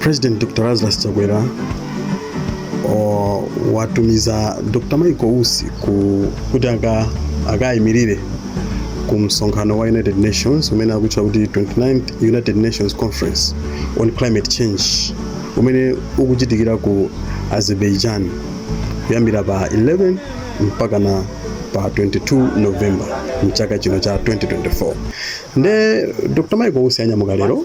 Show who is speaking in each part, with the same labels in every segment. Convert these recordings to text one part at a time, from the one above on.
Speaker 1: President Dr. Lazarus Chakwera o, watumiza Dr. Michael Usi ku, kuti aka- akayimirire ku msonkhano wa United Nations umene akutcha kuti 29th United Nations Conference on Climate Change umene ukuchitikira ku Azerbaijan kuyambira pa 11 mpakana pa 22 November mchaka chino cha 2024 nde Dr. Michael Usi anyamuka lero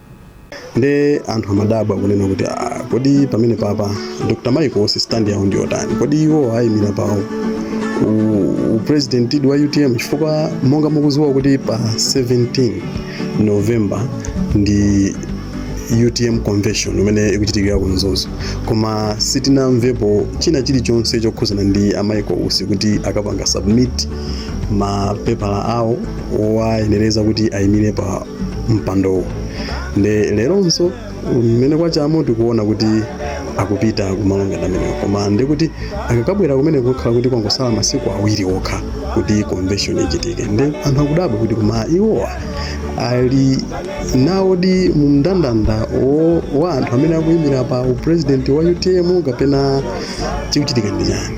Speaker 1: nde anthu amadabwa kunena kuti "Ah, kodi pamene papa dr michael usi stand yawo ndi yotani kodi iwo ayimira pawo u- upresident wa utm chifukwa monga mukuziwa kuti pa 17 november ndi utm convention imene ikuchitikira ku mzuzu koma sitinamvepo china chilichonse chokhuzana ndi a michael usi kuti akapanga submit mapepala awo owayenereza kuti ayimire pa mpandowu nde leronso mmene kwachamo tikuona kuti akupita kumalo ngati amenewo koma ndi kuti akakabwera kumeneko kukhala kuti kwangosala masiku awiri okha kuti convention ichitike nde anthu akudabwa kuti koma iwowa ali nawodi mu mndandanda wo- wa anthu amene akuyimira pa uprezidenti wa utm kapena chikuchitika ndi chani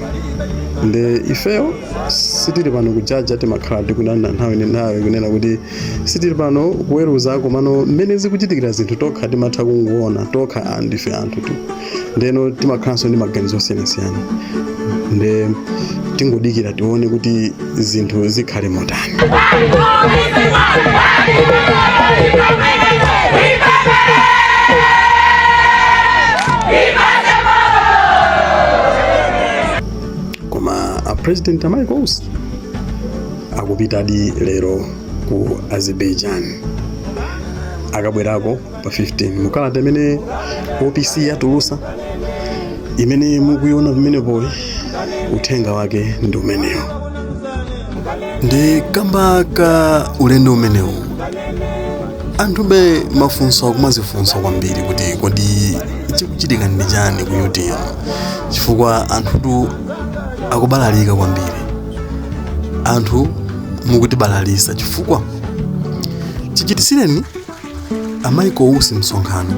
Speaker 1: nde ifeyo sitili pano kujaja timakhala tikunena nthawi ndi nthawi kunena kuti sitili pano kuweruza komano mmene zikuchitikira zinthu tokha timatha kungoona tokha ah, ndife anthutu ndeno timakhalanso ndi maganizo osiyanasiyana nde tingodikira tione kuti zinthu zikhale motani koma a president a michael usi akupitadi lero ku azerbaijan akabwerako pa 15 mukalata imene opc yatulusa imene mukuiona pamenepoyi uthenga wake ndi umenewo ndi kamba ka ulendo umenewu anthube mafunso akumazifunsa kwambiri kuti kodi chikuchitika ndi chani ku utm chifukwa anthutu akubalalika kwambiri anthu mukutibalalisa chifukwa chichitisireni a michael usi msonkhano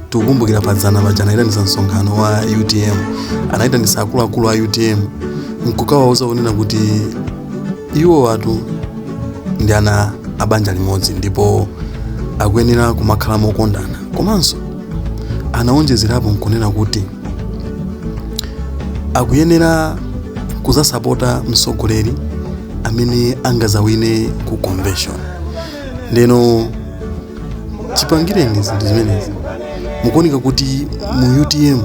Speaker 1: tikukumbukira padzana paja anayitanisa msonkhano wa utm anayitanisa akuluakulu a utm nkukawauza kunena kuti iwowatu ndi ana a banja limodzi ndipo akuyenera kumakhala mokondana komanso anawonjezerapo nkunena kuti akuyenera kuzasapota mtsogoleri amene angazawine ku convention ndeno chipangireni zinthu zimenezi mukuoneka kuti mu utm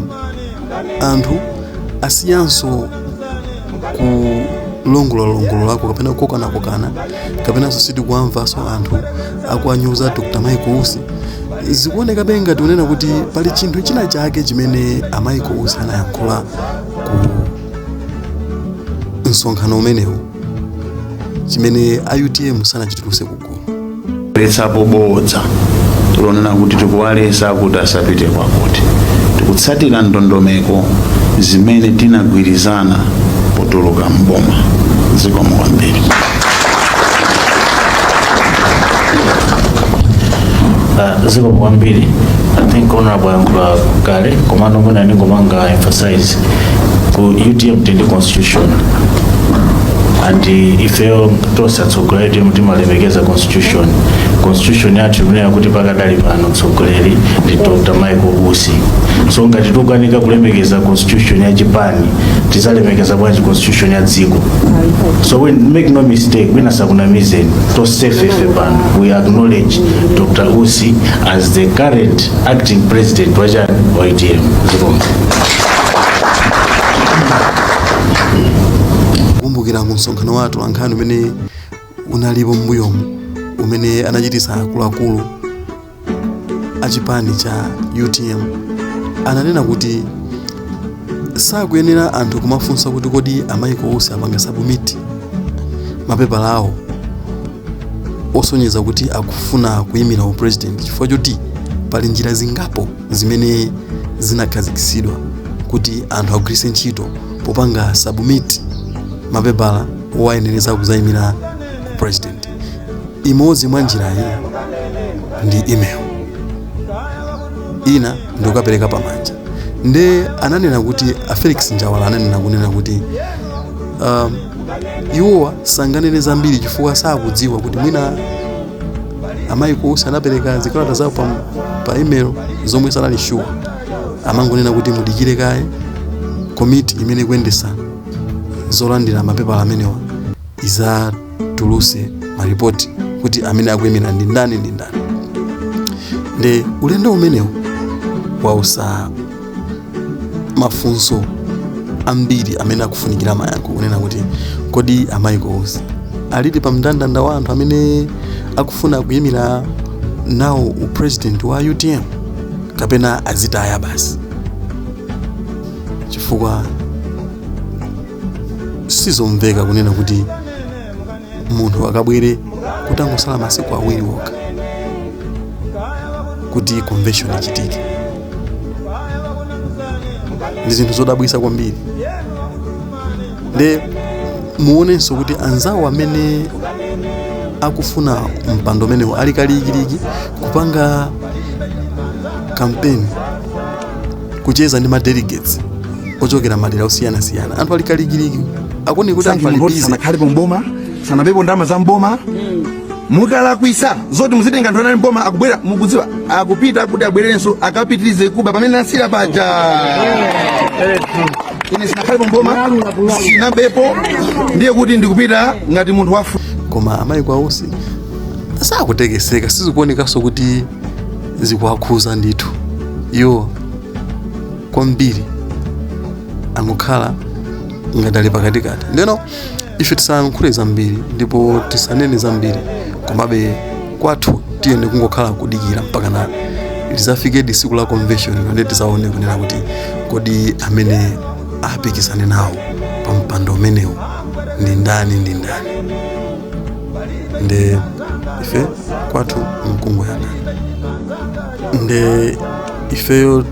Speaker 1: anthu asiyanso kulongololalongolola kapena kukokanakokana kapenanso sitikuwamvanso anthu akuwanyoza dr michael usi zikuonekabe ngati kunena kuti pali chinthu china chake chimene a michael usi anayankhula ku msonkhano umenewu chimene a utm sanachituluse kugu
Speaker 2: kuchotsapo bodza lonena kuti tikuwaletsa kuti asapite kwakuti tikutsatira ndondomeko zimene tinagwirizana potuluka mboma zikomo kwambiri
Speaker 3: Uh, zikomo kwambiri i think honorable ayankhula kale komano mwina ndingopanga emphasize ku utm tili ndi constitution and uh, ifeyo tonse atso Tsogoleri umu timalemekeza constitution. Constitution yathu ikunena kuti pakadali pano tsogoleri ndi Dr. Michael Usi. So ngati tikukanika kulemekeza constitution ya chipani, tizalemekeza bwanji constitution ya dziko. So we make no mistake, wina asakunamizeni. Tonsefe ife pano. We acknowledge Dr. Usi as the current acting president wa chipani cha UTM. Zikomo.
Speaker 1: kumbukira mu msonkhano wathu nkhani umene unalipo m'mbuyomu umene anachitisa akuluakulu a chipani cha utm ananena kuti sakuyenera anthu kumafunsa kuti kodi a michael usi apanga submit mapepala awo osonyeza kuti akufuna kuyimira upresident chifukwa choti pali njira zingapo zimene zinakhazikitsidwa kuti anthu agwiritse ntchito popanga submit mapepala owayenereza kuzayimira upresident imodzi mwa njirayi ndi email ina ndikukapereka pamanja nde ananena kuti a felix njawala ananena kunena kuti um, iwowa sanganene zambiri chifukwa sakudziwa kuti mwina a michael usi anapereka zikalata zawo pa, pa email ndiye sanali sure amangonena kuti mudikire kaye komiti imene ikuyendesa zolandira mapepala amenewa izatuluse maripoti kuti amene akuyimira ndi ndani ndi ndani nde ulendo umenewu wausa mafunso ambiri amene akufunikira mayankho kunena kuti kodi a Michael Usi alidi pa mndandanda wa anthu amene akufuna kuyimira nawo upresident wa utm kapena azitaya basi chifukwa sizomveka kunena kuti munthu akabwere kutangosala masiku awiri okha kuti convention ichitike ndi zinthu zodabwisa kwambiri nde muonenso kuti anzawo amene akufuna mpando umenewu ali kalikiliki kupanga kampeni kucheza ndi ma delegates ochokera madera osiyanasiyana anthu ali kalikiliki akuone kuti anthu ali busy sanakhalepo
Speaker 4: mboma sanabepo ndalama za mboma mukalakwisa zoti muzitenga anthu anali mboma akubwera mukudziwa akupita kuti abwererenso akapitirize kuba pamene anasiyira paja ine sinakhalepo mboma sinabepo ndiye kuti ndikupita ngati munthu wafu koma a Michael
Speaker 1: Usi sakutekeseka sizikuonekanso kuti zikuwakhuza ndithu iwo kwambiri angokhala ngati ali pakatikati ndeno ife tisayankhule zambiri ndipo tisanene zambiri komabe kwathu tiyeni kungokhala kudikira mpakana lizafikedi tsiku la convention and tizaone kunena kuti kodi amene apikisane nawo pa mpando umenewu ndi ndani ndi ndani nde ife kwathu mkungoyang'ana nde ifeyo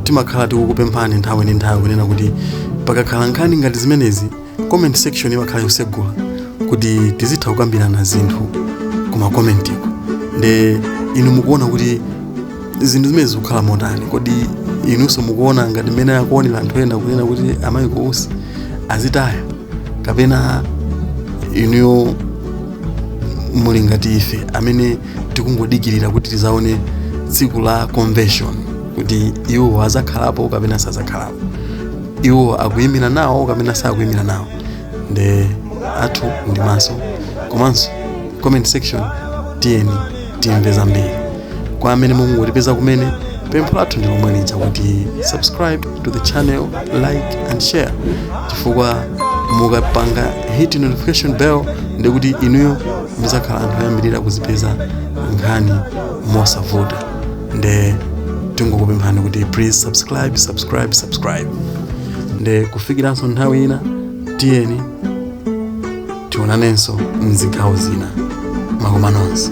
Speaker 1: timakhala tikukupemphani nthawi ndi nthawi kunena kuti pakakhala nkhani ngati zimenezi comment section imakhala yosegula kuti tizitha kukambirana zinthu ku ma komentiko nde inu mukuona kuti zinthu zimenezi zikukhala motani kodi inunso mukuona ngati mmene akuonera anthu ena kunena kuti a Michael Usi azitaya kapena inuyo muli ngati ife amene tikungodikirira kuti tizaone tsiku la convention kuti iwo azakhalapo kapena sazakhalapo iwo akuyimira nawo kapena sakuyimira nawo nde athu ndi maso komanso comment section tiyeni timve zambiri kwa amene mukungotipeza kumene pempho lathu ndi lomwe lija kuti subscribe to the channel like and share chifukwa mukapanga hit notification bell nde kuti inuyo muzakhala anthu oyambirira kuzipeza nkhani mosavuta nde tingokupemphani kuti please subscribe subscribe subscribe nde kufikiranso nthawi ina tiyeni tionanenso mzigawo zina makomanonse